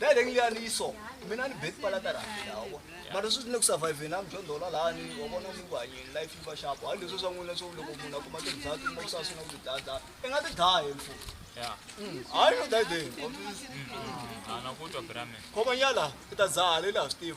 Dai lengi ya ni so. Mina ni bed pala tara lawo. Mara swi ni ku survive na mjo ndola la ni wa bona ni ku hanye life va sharp. Ha leswi swa n'wina swo loko munhu akuma ti dzati mo sa swi na ku dada. I nga ti dai mfu. Yeah. Mm. Hayi no dai dai. Ana ku to brame. Khoma nyala, ita zale la Steve.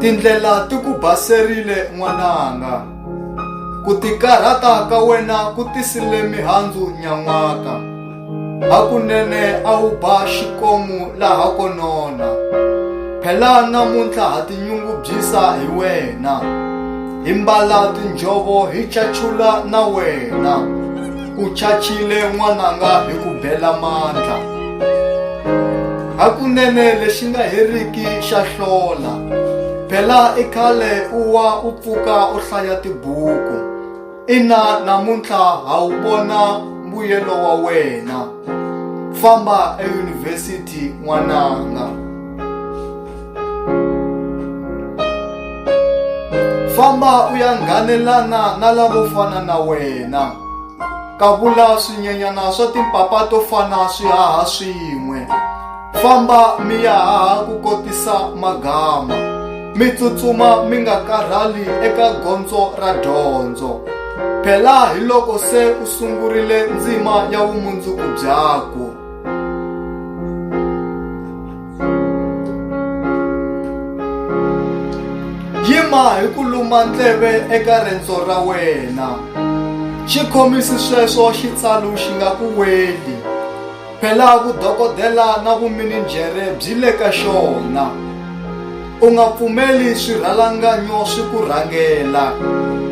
Tindlela ti ku baserile n'wananga. Ku tikarhata ka wena ku tisile mihandzu nyan'waka. Hakunene a wu ba xikomu laha ko nona. Phela namuntlha ha tinyungubyisa hi wena. Hi mbala tinjhovo hi cachula na wena. U chachile n'wananga hi ku bela mandla. Hakunene lexi nga heriki xa hlola. Phela i khale u wa u pfuka u hlaya tibuku. Ina namuntlha ha wu vona mbuyelo wa wena. Famba eyunivhesiti n'wananga. famba u ya nghanelana na lavo fana na wena kavula swinyenyana swa timpapa to fana swi haha swin'we famba mi ya haha ku kotisa magama mi tsutsuma mi nga karhali eka gondzo ra dyondzo phela hi loko se u sungurile ndzima ya vumundzuku byakwe Yima hi ku luma ndleve eka rendzo ra wena. Xi khomisi sweswo xitsalu xi nga ku weli. Phela vudokodela na vumininjhere byi le ka xona. U nga pfumeli swirhalanganyo swi ku rhangela.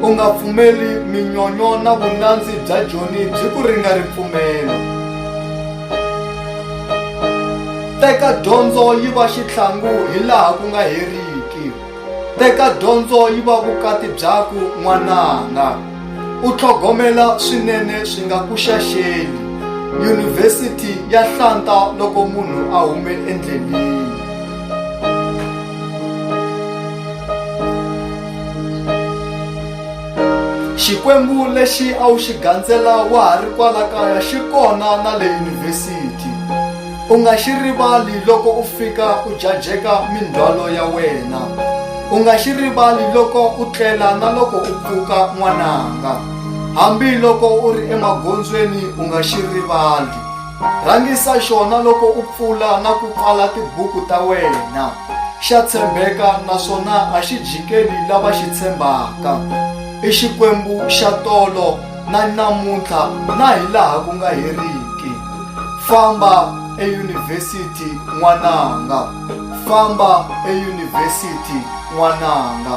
U nga pfumeli minyonyo na vunandzi bya Joni byi ku ringa ripfumelo. Teka dyondzo yi va xitlhangu hi laha ku nga heriki. Teka dyondzo yi va vukati byakwe n'wananga. U tlhogomela swinene swi nga ku xaxeli. Yunivhesiti ya hlanta loko munhu a hume endleleni. Xikwembu lexi a wu xi gandzela wa ha ri kwala kaya xi kona na le yunivhesiti. U nga xi rivali loko u fika u jajeka mindzhwalo ya wena. U nga xi rivali loko u tlela na loko u pfuka n'wananga. Hambi loko u ri emagondzweni u nga xi rivali. Rhangisa xona loko u pfula na ku pfala tibuku ta wena. Xa tshembeka naswona a xi jikeli lava xi tshembaka. I Xikwembu xa tolo na namuntlha na hi laha ku nga heriki. Famba eyunivhesiti n'wananga. Famba eyunivhesiti n'wananga.